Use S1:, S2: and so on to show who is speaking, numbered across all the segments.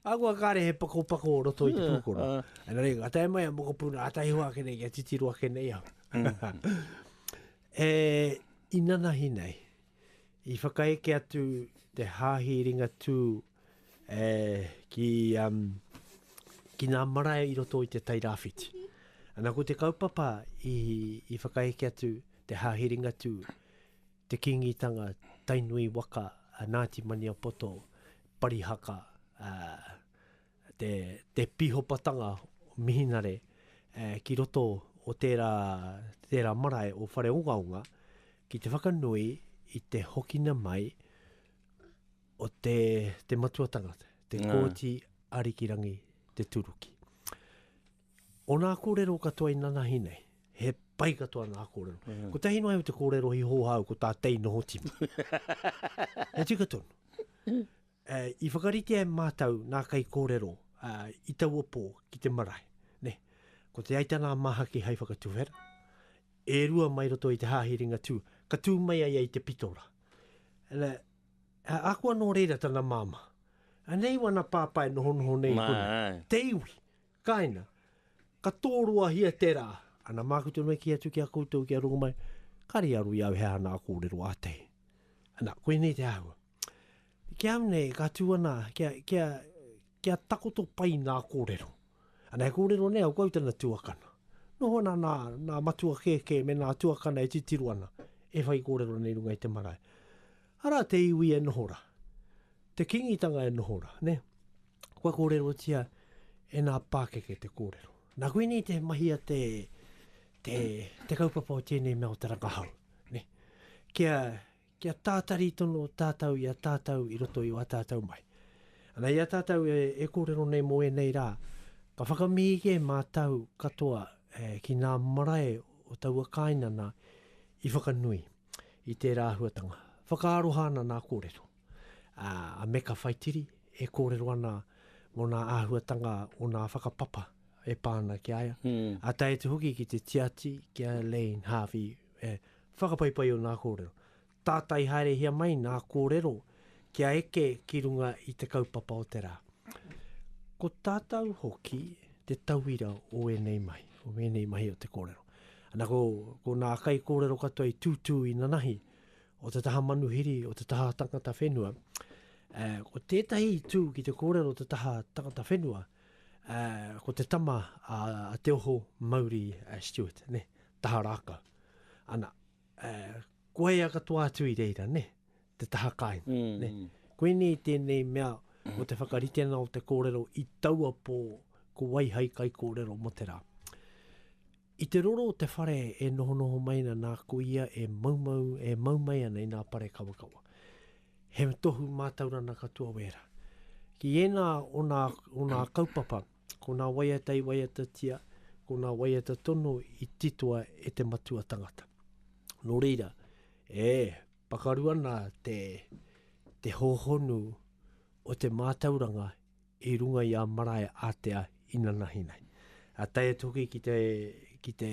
S1: Ahakoa kāre he pakopako o roto i te pūkoro. Engari, ngā tae mai a Mokopuna, ātahi hoa ake nei, kia titiro ake nei au. e, i nanahi nei, i whakaeke atu te hāhi ringatū e, ki, um, ki nā marae i roto i te Tairāwhiti. Ana ko te kaupapa i, i whakaeke atu te hāhi ringatū, te kingitanga, tainui waka, a Ngāti Maniapoto, Parihaka, ā, te, te pihopatanga o Mihinare, ā, ki roto o tērā, tērā marae o Whareongaonga, ki te whakanui i te hokina mai o te, te matuatanga, te Kōti Arikirangi Te Turuki. O nā kōrero katoa i nanahi nei, he pai katoa nā kōrero. Mm. Ko tahi noa iho te kōrero hi hōha au ko tā tei noho timu. he tika tonu. Uh, eh, I whakarite ai mātau nā kai kōrero uh, i taua pō ki te marae. Ne? Ko te aitana māhaki hai whakatuhera, e rua mai roto i te hāhi ringa tū, ka tū mai ai ai te pitora. Ele, uh, ako anō reira tana māma. Anei wana pāpai noho noho nei Mā, kona. Te iwi. Kaina, ka tōroahia te rā. Ana māku tonu e kī atu ki a koutou kia rongo mai, kāre i aro i au he aha nā kōrero a te. Ana, koinei te āhua. Ki au nei, ka tū ana, kia, kia, kia takoto pai nā kōrero. Ana, he kōrero nei a koutou tana tuakana. Noho ana nā, nā matua kēkē me nā tuakana e titiro ana, e whai kōrero nei runga i te marae. Arā te iwi e noho ra. Te Kingitanga e noho ra, ne. Kua korerotia e nga pakeke te korero. Na koinei te mahia te te kaupapa o tenei mea o te rangahau, ne. Kia kia tatari tono tatou i a tatou i roto i a tatou mai. Ana i a tatou e korero nei mo enei ra, ka whakamihi ke matou katoa ki nga marae o taua kainana i whakanui. i tērā āhuatanga. Whakaaroha ana nā kōrero, ā, a Meka Whaitiri e kōrero ana mō nā āhuatanga o nā whakapapa e pā ana ki a ia, a tae atu hoki ki te tiati ki a Elaine Harvey, e, whakapaipai o nā kōrero. Tātai haerehia mai nā kōrero, kia eke ki runga i te kaupapa o te rā. Ko tātou hoki te tauira o ēnei mahi, o ēnei mahi o te kōrero. Ana ko, ko nā kai kōrero katoa i tūtū i nanahi, o te taha manuhiri, o te taha tangata whenua, uh, ko tētahi i tū ki te kōrero o te taha tangata whenua, uh, ko te tama a, a Te Oho Mauri uh, Stewart, ne, taha rākau. Ana, uh, koia katoa atu i reira, ne, te taha kāinga. Ne? Koinei tēnei mea o te whakaritenga o te kōrero i taua pō ko wai hai kaikōrero mō te rā. I te roro o te whare e nohonoho mai ana nā ko ia e maumau, e mau mai ana i nā parekawakawa. He tohu mātaurana katoa wērā. Ki ēnā o nā, o nā kaupapa, ko nā waiata i waiatatia, ko nā waiata tonu i titoa e te matua tangata. Nō reira, e, Pakaru ana te hōhonu o te mātauranga i runga i a marae ātea inanahi nei. Tae atu hoki ki te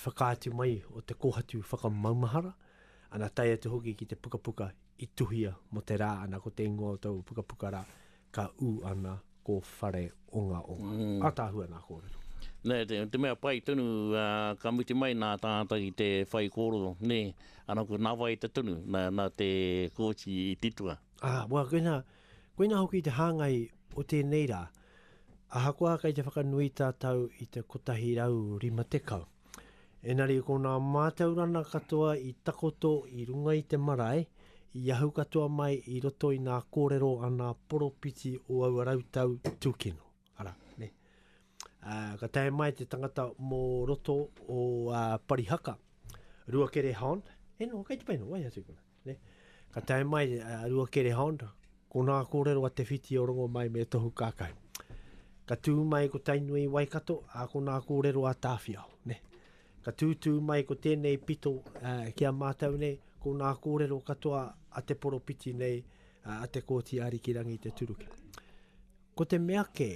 S1: whakaatu mai o te kōhatu whakamaumahara, ana tae atu hoki ki te pukapuka i tuhia mō te rā, ana ko te ingoa o tōu pukapuka rā, ka ū ana ko Whare Ongaonga. Ataahua nā kōrero. Nē, te, te mea
S2: pai tonu, uh, ka mutu mai nā tātou i te whai kōrero, nē, ana ko nā wai te tonu, nā, nā te kōti i titua. Ah, wā, koina,
S1: koina hoki te hāngai o tēnei rā. Ahakoa kei te whakanui tātou i te 150, Engari ko nā mātaurana katoa i takoto i runga i te marae, i ahu katoa mai i roto i ngā kōrero a ngā poropiti o aua rautau tūkino. Arā, nē. Ā, ka tae mai te tangata mō roto o ā, Parihaka, Ruakere Hon, e noa, kei te painga, wai atu kona. Ne. Ka tae mai a Ruakere Hond, ko nā kōrero a Te Whiti o Rongomai me Tohu Kākau. Ka tū mai ko Tainui i Waikato, ā, ko nā kōrero a Tāwhiao, ne. Ka tūtū mai ko tēnei pito ā, ki a mātou nei, ko nā kōrero katoa a te poropiti nei, ā, a Te Kooti Arikirangi Te Turuki. Ko te mea kē,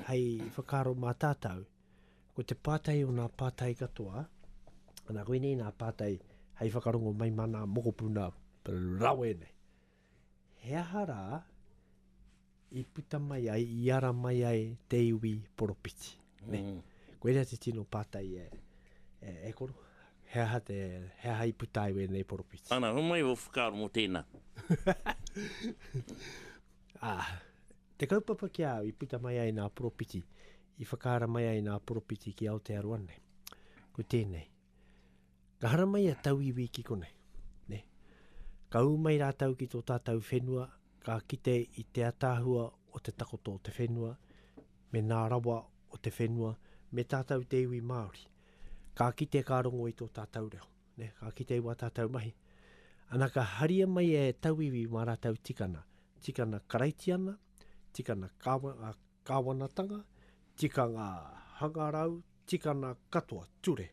S1: hei whakaaro mā tātou, Ko te pātai o nā pātai katoa, ana koinei nā pātai hei whakarongo mai mā nā mokopuna rawe nei. He aha rā i puta mai ai, i ara mai ai te iwi poropiti? Ne? Mm. Koinei te tino pātai e, e, e koro. He aha, te, he aha i puta ai wēnei poropiti? Ana, homai o whakaaro
S2: mō tēnā.
S1: ah, te kaupapa ki au i puta mai ai nā poropiti, I whakaharamai ai ngā poropiti ki Aotearoa nei. Ko tēnei. Ka haramai a tauiwi ki konei. Ne? Ka ū mai rātau ki tō tātau whenua, ka kite i te ataahua o te takoto o te whenua, me nā rawa o te whenua, me tātau te iwi Māori. Ka kite ka rongo i tō tātau reo. Ne? Ka kite i wā tātau mahi. Ana ka haria mai e tauiwi mā rātau tikana. Tikana Karaitiana, tikana Kāwana, Kāwanatanga, tikanga hangarau, tikana katoa, ture.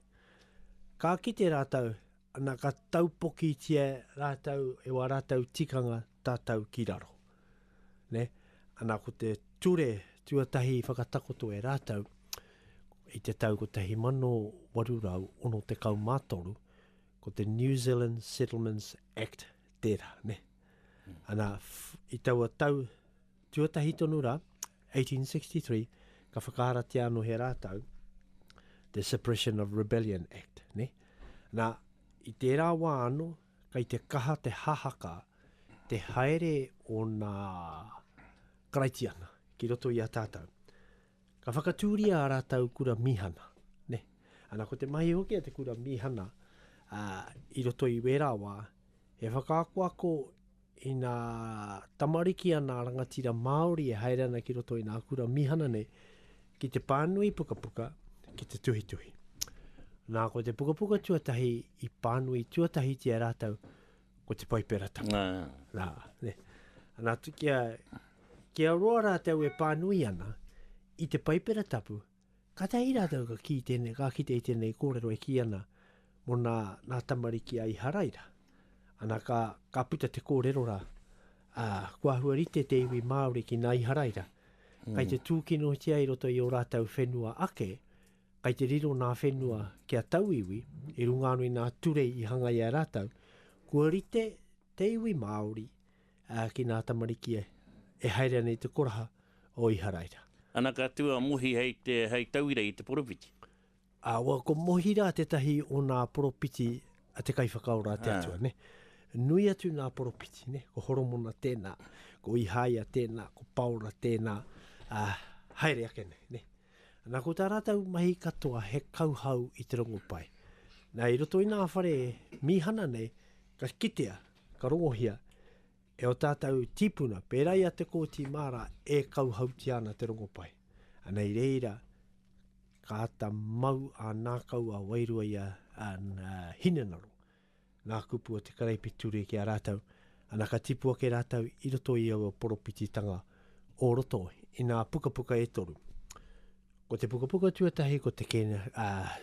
S1: Ka kite rātou, ana ka taupokitia rātou e wā rātou tikanga tatau ki raro. Ne? Ana ko te ture tuatahi i whakatakoto e rātou i te tau 1863, ko te New Zealand Settlements Act tērā. Ne? Ana, i taua tau Tuatahi tonu rā, 1863, ka whakaharatia anō he rātau, the Suppression of Rebellion Act, ne? Nā, i tērā wā anō, kei te kaha te hahaka, te haere o nā Karaitiana ki roto i a tātau. Ka whakatūria a rātau kura mīhana, ne? Ana ko te mahi hoki a te kura mīhana, uh, i roto i wērā wā, he whakaakoako Ina tamariki ana rangatira Māori e haere ana ki roto i nā kura mīhana nei, ki te pānui pukapuka, ki te tuhituhi. Nā, ko te pukapuka tuatahi i pānui tuatahitia e rātou, ko te Paiperatanga. Nā, ne. Nā, kia, kia roa rātou e pānui ana i te Paipera Tapu, Kātahi rātou ka kī tēnei, ka kite i tēnei kōrero e kī ana mō nā, nā tamariki a Iharaira. Ana ka, ka puta te kōrero rā, ā, kua āhua rite te iwi Māori ki nā Iharaira. Kai te tūkinotia i roto i ō rātou whenua ake, kai te riro nā whenua ki a tauiwi, i runga anō i nā ture i hanga i a rātou, kua rite te iwi Māori, Ā, ki nā tamariki e, e haere ana i te koraha o Iharaira. Ana ka tū a
S2: Mohi hei te, hei tauira i te poropiti. Ā, wā,
S1: ko Mohi rā tētahi o nā poropiti a te Kaiwhakaora a te Atua, nē. Nui atu nā poropiti, nē, ko Horomona tēnā, ko Ihaia tēnā, ko Paora tēnā, ā, haere ake nei, nē. Ana ko tā rātou mahi katoa he kauhau i te rongopai. Nā, i roto i nā whare mīhana nei, ka kitea Ka rongohia e o tātou tīpuna, pērā i a Te Kooti Māra e kauhautia ana te rongopai. Anei reira ka ata mau a nākau a wairua i a, a, a Hinengaro, ngā kupu o te karaipiture ki a rātou, ana ka tipu ake rātou i roto i aua poropititanga o roto i ngā pukapuka e toru. Ko te pukapuka tuatahi ko te kēne, uh,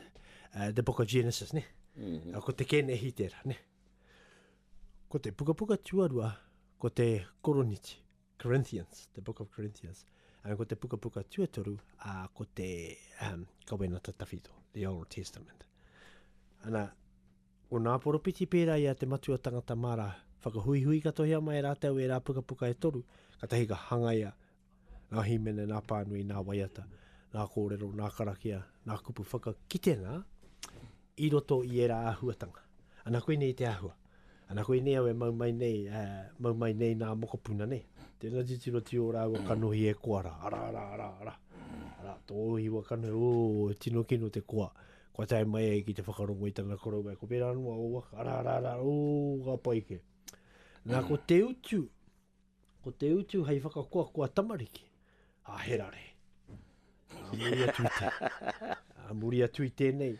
S1: uh, the book of Genesis, ne? Mm -hmm. Ko te kēnehi tērā, ne? Ko te pukapuka tuarua, ko te Koroniti, Corinthians, the book of Corinthians. And ko te pukapuka tuatoru, uh, ko te um, Kawenata Tawhito, the Old Testament. Ana, o nā poropiti pērā i a te matua tangata mara, whakahuihui katohia mai rātou e rā pukapuka e toru, katahi ka hangaia Nā hīmene, nā pānui, nā waiata, nā kōrero, nā karakia, nā kupu whakakitenga i roto i ērā āhuatanga. Ana koinei te āhua. Ana koinei au e mau mai nei, e, mau mai nei nā mokopuna nei. Tēnā titiro tio rāua kanohi e koa rā, arā, arā, arā, arā, arā, tō hiwa kanohi, ō, e tino kino te koa, kua tae mai ai ki te whakarongo i tana korou e, ko wērā noa ō waka, arā, arā, arā, ō, ka pai kē. Nā, ko te utu, Ko te utu hei whakakoakoa tamariki, a he rare. A muri atu i te, a muri atu i tēnei,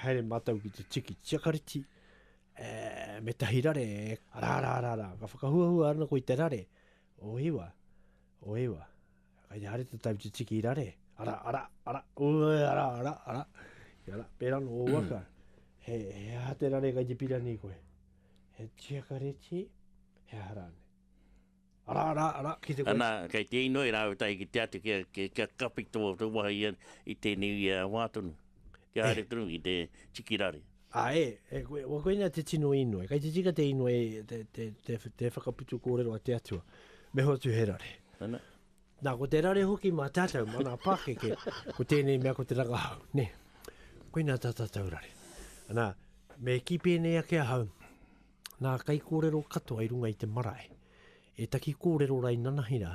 S1: haere mātou ki te tiki tiakariti, e, me tahi rare, e, rā, rā, rā, rā, ka whakahuahua ana koe i te rare, o iwa, o iwa, kai te hare te tau te tiki rare, ara, ara, ara, ue, ara, ara, ara, ara, pērā no o waka, he, he aha te rare kai te pirani koe? He tiakareti, he aha rānei. Arā, arā, arā, ki te koe. Anā,
S2: kei te inoi rāua tahi ki te atu kia, kia, kia kapi tō, tō wahi ia i tēnei ia wā tonu. Kia haere tonu ki te tiki rare. Ā, e, e koe,
S1: wa koinā te tino inoi. Kei te tika te inoi, te, te, te, te whakaputu kōrero a te Atua. Me hoatu he rare. Ana. Nā, ko te rare hoki mā tātou, mā ngā pākeke, ko tēnei mea ko te rangahau, nē. Koinā tā tātou rare. Nā, me kī pēnei ake ahau, nā kai kōrero katoa i runga i te marae, e taki kōrero rā i nanahi rā,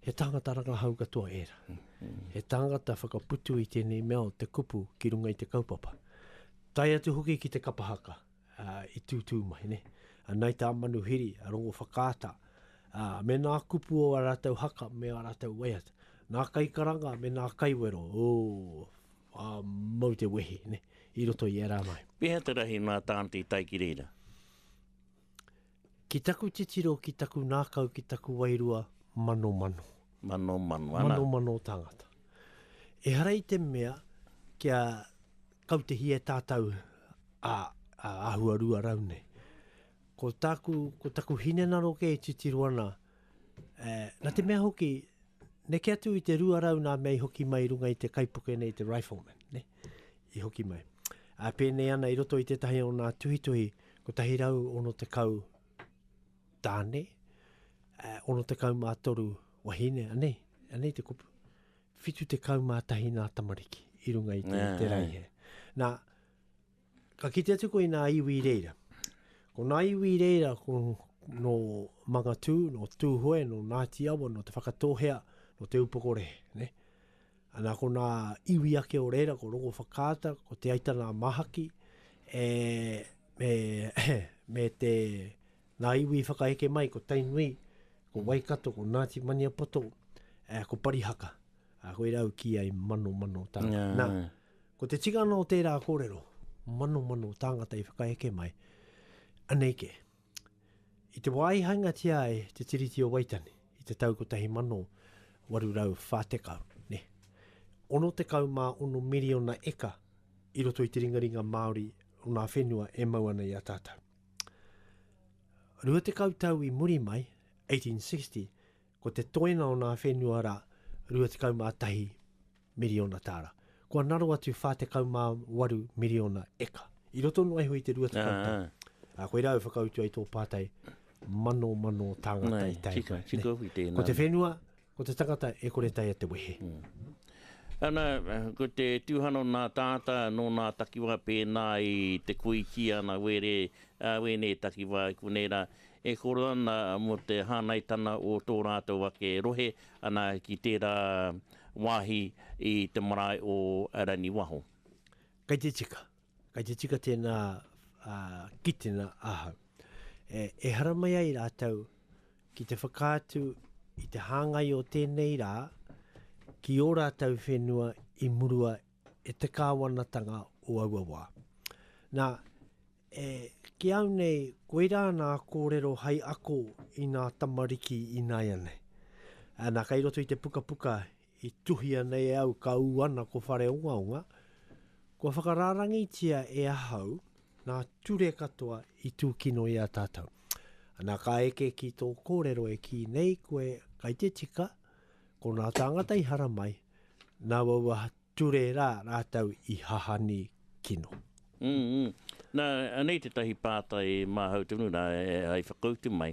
S1: he tāngata rangahau katoa e rā. He tāngata whakaputu i tēnei mea o te kupu ki runga i te kaupapa. Tae atu hoki ki te kapa haka. i tūtū mai, ne? A nai tā Manuhiri, a Rongowhakaata, ā, me nā kupu o ā rātou haka me ā rātou waiata, nā kaikaranga me nā kaiwero, ō, ā, mau te wehi, ne, i roto i ērā mai. Pēhea te rahi nā
S2: Tāne i tae ki reira? Ki
S1: taku titiro, ki taku ngākau, ki taku wairua, manomano. Manomano,
S2: ana. Manomano o
S1: tāngata. Ehara i te mea kia kautehia e tātou a, a ahua rua rau nei. Ko tāku, ko taku hinenaro kē e titiro ana, e, na te mea hoki, neke atu i te rua rau nā mea i hoki mai runga i te kaipuke nei, te rifleman, ne? i hoki mai. A pēnei ana i roto i tētahi o nā tuhituhi, 160 tāne, 63 wahine, anei, anei te kupu. 71 nā tamariki i runga i te, yeah. te raihe. Nā, ka kite atu koe i nā iwi reira. Ko nā iwi reira, ko no Mangatū, no Tūhoe, no Ngāti Awa, no Te Whakatōhea, no Te Upokorehe. Ne? Ana ko nā iwi ake o reira, ko Rongowhakaata, ko Te Aitana-a-Mahaki, e, me, me te, nā iwi i whakaeke mai, ko Tainui, ko Waikato, ko Ngāti Maniapoto, e, ko Parihaka. A, koira au kī ai, mano, mano tāngata. Yeah. Nā, ko te tikanga o tērā kōrero, mano, mano tāngata i whakaeke mai, anei kē. I te wā i hainatia ai te Tiriti o Waitangi i te tau 1840, nē, 66 miriona eka i roto i te ringaringa Māori o ngā whenua e mau ana i a tātou. Rua tekau tau i muri mai, 1860, ko te toenga o ngā whenua rā, 21 miriona tāra. Kua naro atu 48 miriona eka. I roto noa iho i te rua tekau tau. Ā, koirā au whakautu ai tō pātai, mano mano tāngata i tae mai. Ko te whenua, ko te tangata e kore taea te wehe. Ana,
S2: ko te tuhan o nā tāta, nō nā takiwā pēnā i te koiti ana were, ā, wēnei takiwā i konei rā, e koro ana mō te hānaitanga o tō rātou ake rohe, Ana ki tērā wāhi i te marae o Raniwaho. Kei te
S1: tika, kei te tika tēnā kitenga ahau. E hara mai ai rātou ki te whakaatu i te hāngai o tēnei rā ki ō rātou whenua i murua e te Kāwanatanga o aua wā. Nā, e, ki au nei, koirā nā kōrero hai ako i nā tamariki i nāianei. Ā, nā, kei roto i te pukapuka i tuhia nei e au ka ū ana ko Whareongaonga, kua whakarārangitia e ahau nā ture katoa i tūkino i a tātou. Nā, ka eke ki tō kōrero e kī nei koe, kai te tika, Ko nā tāngata i hara mai, nā waua ture rā rātou i hahani kino.
S2: Nā, anei tētahi pātai e māhau tonu rā hai whakautu mai.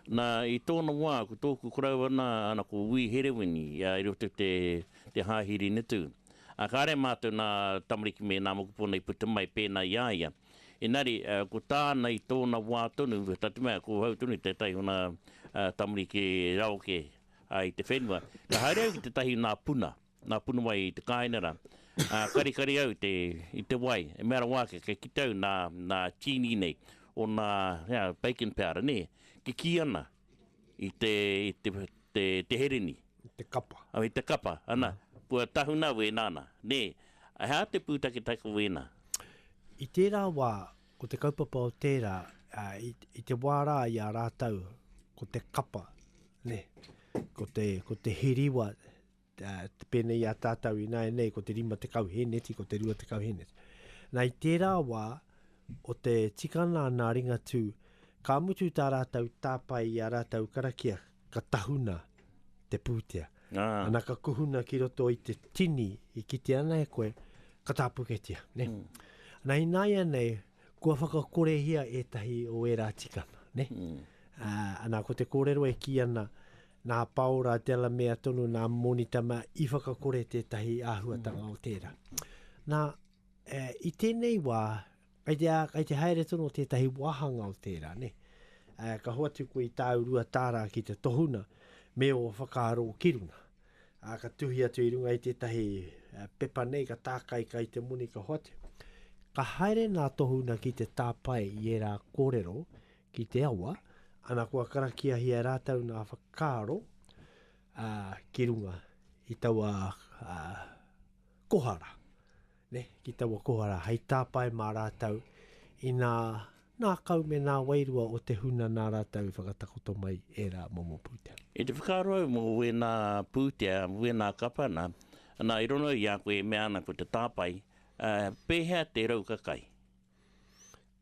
S2: Nā, i tōna wā, ko tōku koroua nā, ana ko Wī Herewini, ia i roto i te hāhi Ringatū. Ā, kāre mātou nā tamariki me nā mokopuna i puta mai pēnā i a ia. Engari, ko tāna i tōna wā tonu, whakatau mea, ko hau tonu tētahi ona tamariki raro kē i te whenua. Ka haere au ki tētahi o nā puna, nā puna wai i te kāinga rā. Karikari au i te wai, e mea rawa ake, kei kite au nā tīni nei, o nā bacon powder, nē, kikī ana, i te, i te, te, te hereni. I te kapa. Oh,
S1: i te kapa, ana,
S2: mm. kua tahuna wēnā ana. Nē, hea te pūtaketake o wēnā? I
S1: tērā wā, ko te kaupapa o tērā, uh, i, i te wā rā i a rātau, ko te kapa, ne, ko te, ko te hiriwa, Pēnei i a tātou ināianei ko te 50 hēneti, ko te 20 hēneti. Nā, i tērā wā, o te tikana ana a Ringatū, ka mutu tā rātou tāpae i ā rātou karakia, ka tahuna te pūtea. Ana ka kuhuna ki roto i te tini i kite ana e koe, ka tāpuketia. Nā, ināianei, kua whakakorehia ētahi o ērā tikana. Ana ko te kōrero e kī ana, Nā Paora Delamere tonu nā Monita mea i whakakore tētahi āhuatanga o tērā. Nā, e, i tēnei wā, kai te, kai te haere tonu o tētahi wāhanga o tērā, ne? E, ka hoatu koe i tāu rua tāra ki te tohuna, me o whakaaro ki runga. A, ka tuhi atu i runga i tētahi e, pepa nei, ka tākai kai te moni ka hoatu. Ka haere nā tohuna ki te tāpae i ērā kōrero, ki te awa, ana kua karakiahia e rātou ngā whakaaro ā, ki runga i taua ā, kohara, ne, ki taua kohara hei tāpae mā rātou i nā ngākau me nā wairua o te huna nā rātou i whakatakoto mai ērā momo pūtea. I te whakaaro au mō
S2: wēnā pūtea, wēnā kapa nā, nā i rono i a koe e mea ana ko te tāpae, ā, pēhea te rau kakai?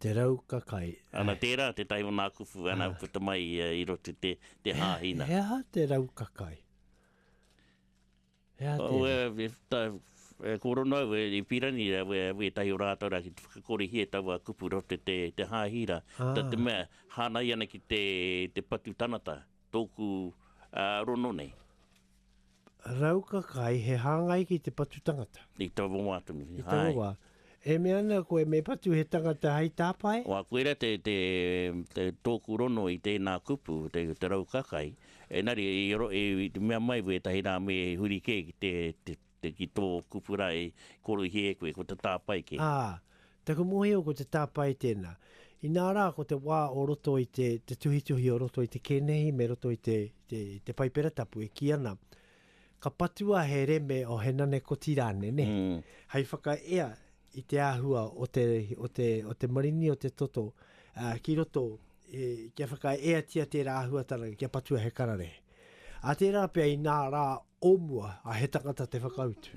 S1: Te rau ka kai. Ana tērā te
S2: tae o nā kupu ana puta mai i roto te te hāhi nā. He aha te rau
S1: ka kai? He aha tērā? Ko Rono
S2: au i pīrangi au ētahi o rātou rā ki te whakakorihia e taua kupu roto te te hāhi rā. Nā te mea hānai ana ki te te patu tangata. Tōku rono nei. Rauka
S1: kai he hāngai ki te patu tangata. I taua wā tonu.
S2: I taua wā.
S1: E mea ana koe me patu he tangata hei tāpae? Wā, koira te, te,
S2: te tōku rono i tēnā kupu, te, te rauka kai. Engari, i, i, i mea mai wētahi rā me huri kē ki te, te, Te ki tō kupu rā e koroihi e koe, ko te tāpae kē. Ā, taku
S1: mōhio ko te tāpae tēnā. Inā rā, ko te wā o roto i te, te tuhituhi o roto i te kenehi me roto i te, te, te Paipera Tapu e kī ana, ka patua he reme o he nane koti rānei, nē, Mm. hei whakaea i te āhua o te, o te, o te marini o te toto, ā, ki roto, e, kia whakaeatia tērā āhuatanga, kia patua he kararehe. Ā tērā pea inā rā o mua, a he tangata te whakautu.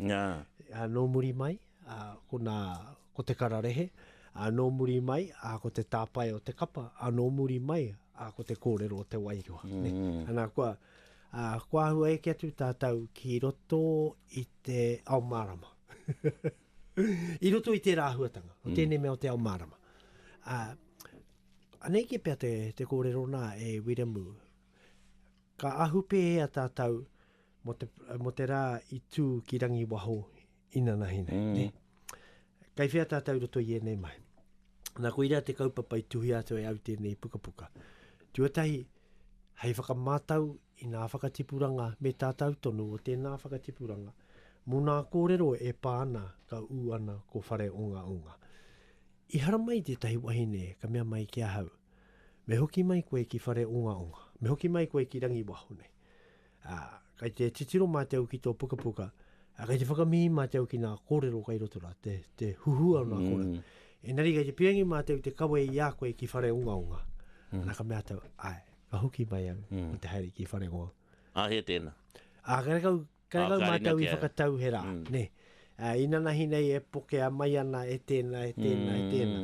S1: Ā, nō muri mai, ā, ko nā, ko te kararehe, ā, nō muri mai, ā, ko te tāpae o te kapa, ā, nō muri mai, ā, ko te kōrero o te wairua, nē. Ana, kua, ā, kua āhua eke atu tātou ki roto i te ao mārama. I roto i tērā āhuatanga, o tēnei mea o te ao mārama. Ā, anei kē pea te, te kōrero nā e Wiremu, Ka ahu pēhea tātou mō te, mō te rā i tū ki Rangiwaho inanahi nei, mm. ne? Kei whea tātou roto i ēnei mahi? Nā, koirā te kaupapa i tuhia atu e au tēnei pukapuka. Tuatahi, hei whakamātau i ngā whakatipuranga me tātou tonu o tēnā whakatipuranga, mō nā kōrero e pā ana ka ū ana ko whare onga onga. I haramai tētahi wahine ka mea mai ki ahau, Me hoki mai koe ki Whareongaonga, me hoki mai koe ki Rangiwaho nei. Ā, kei te titiro mātou ki tō pukapuka, ā, kei te whakamihi mātou ki ngā kōrero kai roto rā, te, te huhua o nā kōrero. Mm. Engari kei te pirangi mātou te kawe i a koe ki Whareongaonga. Mm. Nā ka mea tau, āe, ka hoki mai au, mm. te haere ki Whareongaonga. Ā, he tēnā.
S2: Ā, kare kau,
S1: Kei ngau mātou i whakatauherā, nē. Inanahi nei e pokea mai ana e tēnā, e tēnā, e tēnā.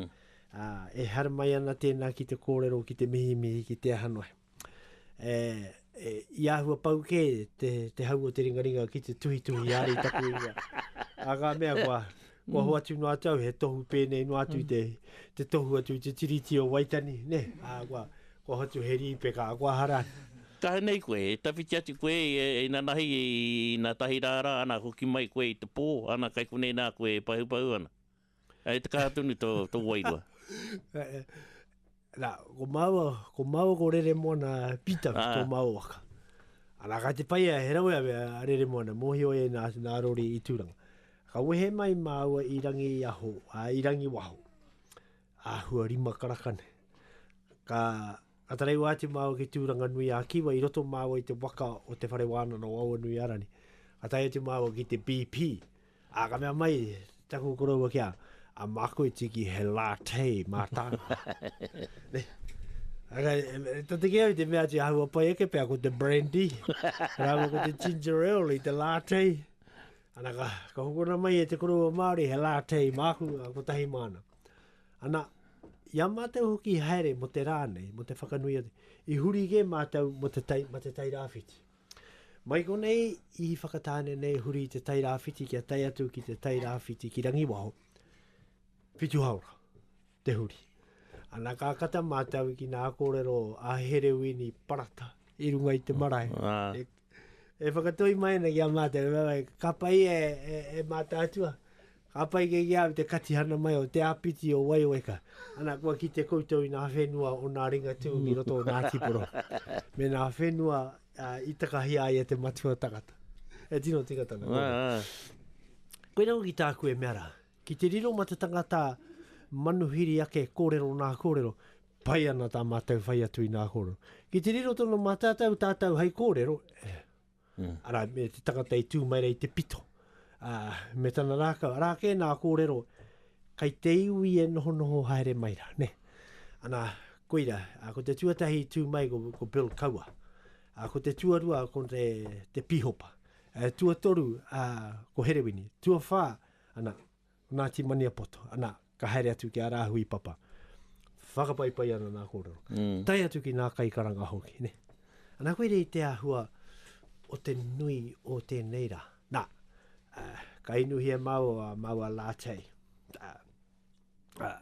S1: E haramai ana tēnā ki te kōrero, ki te mihimihi, ki te aha noa. I āhua pau kē te hau o te ringaringa ki te tuhituhi āre i taku ingoa. Ā ngā mea kua hoatu noa atu au, he tohu pēnei noa atu i te tohu atu i te Tiriti o Waitangi, nē. Ā, kua, Kua hotu he rīpeka a kua hara. Taha nei koe,
S2: e tawhiti atu koe i inanahi i ina tahi rā rā, ana hoki mai koe i te pō, ana kai konei nā koe e pahupahu ana. E te kaha tonu tō, tō wairua.
S1: Nā, ko māua, ko māua ko Reremoana Pitaru ah. tō māua waka. Ana ka te pai a he rawe a, a Reremoana, mōhio e nā, nā Rori i Tūranga. Ka wehe mai māua i rangi aho, a, i rangi waho. Āhua rima karakane. Ka tarewa atu māua ki Tūranganui-ā-Kiwa i roto māua i te waka o Te Whare Wānanga o Awanuiarani. Ka tae atu māua ki te BP, ā, ka mea mai taku koroua ki a, a mākoi tiki he latte mātāna. Ara, to te kea te mea tia hau apai eke pia ko te brandy, rāma ko te ginger ale i te latte. Ana ka, ka hukuna mai e te koroua Māori he latte māku, ko tahi māna. Ana, i a mātou hoki i haere mo te rā nei, mo te whakanui, i huri kē mātou mo te tai, ma te tairāwhiti. Mai konei i Whakatāne nei huri te tairāwhiti kia tai atu ki te tairāwhiti ki Rangiwaho, whitu haora te huri. Ana ka kata mātou ki nā kōrero a Herewini Parata i runga i te marae. Ah. E, E whakatoi mai ana ki a mātou, ka pai e, e, e mātātua, ka pai ke ki au te katihana mai o te āpiti o Waioweka. Ana, kua ki te koutou i nā whenua o nā ringatū ki roto o nā tiporo. Me nā whenua uh, i takahi ai e te matua tangata. E tino tika tana. Koe ah, ah. Koe nau ki tāku e mea rā, ki te riro ma te tangata manuhiri ake kōrero nā kōrero, Pai ana tā mātou whai atu i nā kōrero. Ki te riro tonu mātātou, tātou hai kōrero, arā, me te tangata i tū mai rā i te pito, ā, me tana rākau, arā kē nā kōrero, kai te iwi e nohonoho haere mai rā, nē. Anā, koira, ā, ko te tuatahi i tū mai ko, ko Bill Kaua. Ā, ko te tuarua ko te, te Pīhopa. Ā, tuatoru, ā, ko Herewini. Tuawhā, anā, Ngāti Maniapoto, ana, ka haere atu ki a Rāhui Papa. Whakapaipai ana nā kōrero. Mm. Tai atu ki nā kaikaranga hoki, ne? Ana koe rei te ahua o te nui o tēnei rā. Nā, uh, ka inuhi e māu a māu a Lātei. Uh, uh,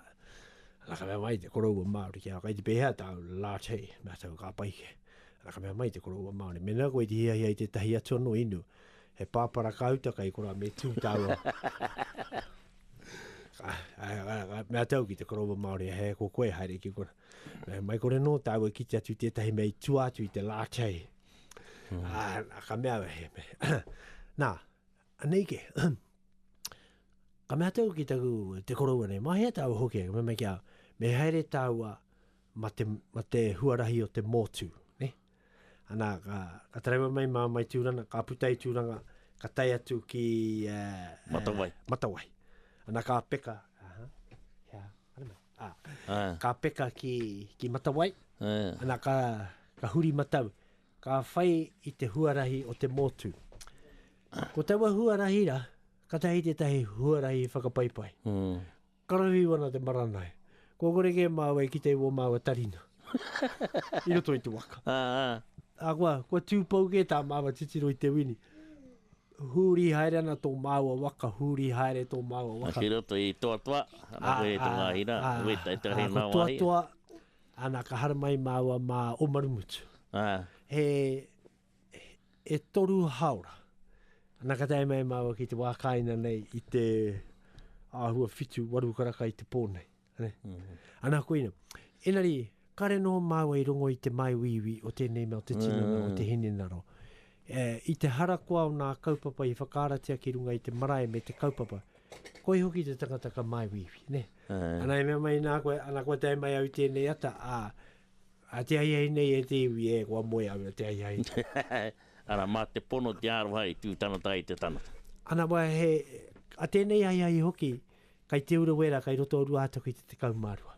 S1: ana ka mea mai te koroua Māori ki a kai te pēhea tāu Lātei, mea tāu ka paike. Ana ka mea mai te koroua Māori, mena koe te hiahia i te tahi atu anō inu, He pāpara kāuta kai kora me tū tāua. Mea tau ki te korowa Māori, he ko koe haere ki kora. Mea mai kore nō tāua ki te atu tētahi mei tua atu i te lātei. Hmm. Ah, ka mea he me. Nā, anei ke. ka mea tau ki taku te korowa nei, mahea tāua hoki, me mei kia, me haere tāua ma te, ma te huarahi o te mōtū. Ana, ka, ka taraiwa mai mā mai Tūrana, ka puta i Tūranga, ka tai atu ki... Uh, matawai. Uh, matawai. Ana, ka peka. Aha. Yeah. Ah. Ah. Ka peka ki, ki Matawai. Yeah. Ana, ka, ka huri matau. Ka whai i te huarahi o te mōtu. Ko taua huarahi ra, ka tahi te tahi huarahi whakapaipai. Mm. Karahu iho ana te maranae. Kua kore kē māua e kitea i wō māua tarina i roto i te waka. Ahakoa, kua tū pou kē tā māua titiro i te wini. Huri haere ana tō māua waka, huri haere tō māua waka. Ki roto i Toatoa,
S2: ana koe e tūnga hira, e weta, e tarahi ngā wāhi. Ko Toatoa,
S1: ana ka haramai māua mā Omarumutu. He e toru haora. Ana ka tae mai māua ki te wā kāina nei i te āhua whitu, waru karaka i te pō nei. Ane? Mm. Ana koina, enari, kare noho māua i rongo i te mai wīwī o tēnei mea o te tinana mm. o te hinenaro. E, I te harakoa o nā kaupapa i whakaaratia ki runga i te marae me te kaupapa, koi hoki te tangata ka mai wīwī, ne? Mm. Ana e mea mai nā koe, ana koe tae mai au tēnei ata, a, A te ahiahi nei e te iwi e, kua moe au e te ahiahi. Ara, ma te
S2: pono te aroha i tu tangata ai te tangata. Ana wa he,
S1: a tenei ahiahi hoki, kai Te Urewera, kai roto o Ruahataku i te tekau ma rua.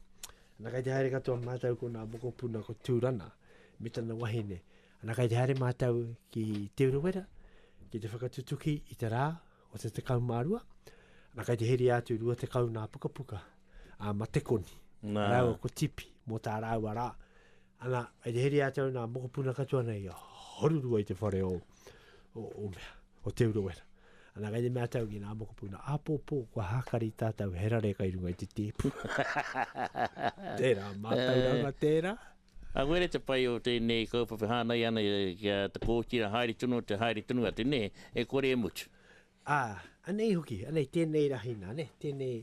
S1: Ana kai te haere katoa matou ko na mokopuna ko Turana me tana wahine. Ana kai te haere matou ki Te Urewera ki te whakatutuki i te ra o te tekau mā rua, ana kai te heria atu rua tekau nā pukapuka a Matekoni, Nā. rāua ko Tipi, mō tā rāua rā. Ana, kai te heria atu nā mokopuna katoa nei, horurua i te whare o, o, o mea, o Te Urewera. Ana kai te mea tau ki nā mokopuna, apōpō, kua hākari tātou he rare kai runga i te tēpu. tērā, mātauranga tērā. Ahurea te
S2: pai o tēnei kaupapa hānai ana ki a Te Kōtira, haere tonu atu, haere tonu atu, nē, e kore e mutu. Ā, anei
S1: hoki, anei tēnei rahi nā, nē, tēnei,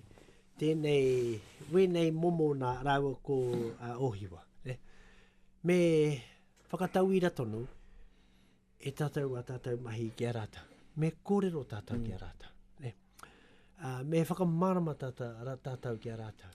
S1: tēnei, wēnei momo nā rāua ko a Ōhiwa, nē. Me whakatauira tonu e tātou ā tātou mahi ki a rātou. Me kōrero tātou ki a rātou, nē. Ā, me whakamārama tātou ki a rātou.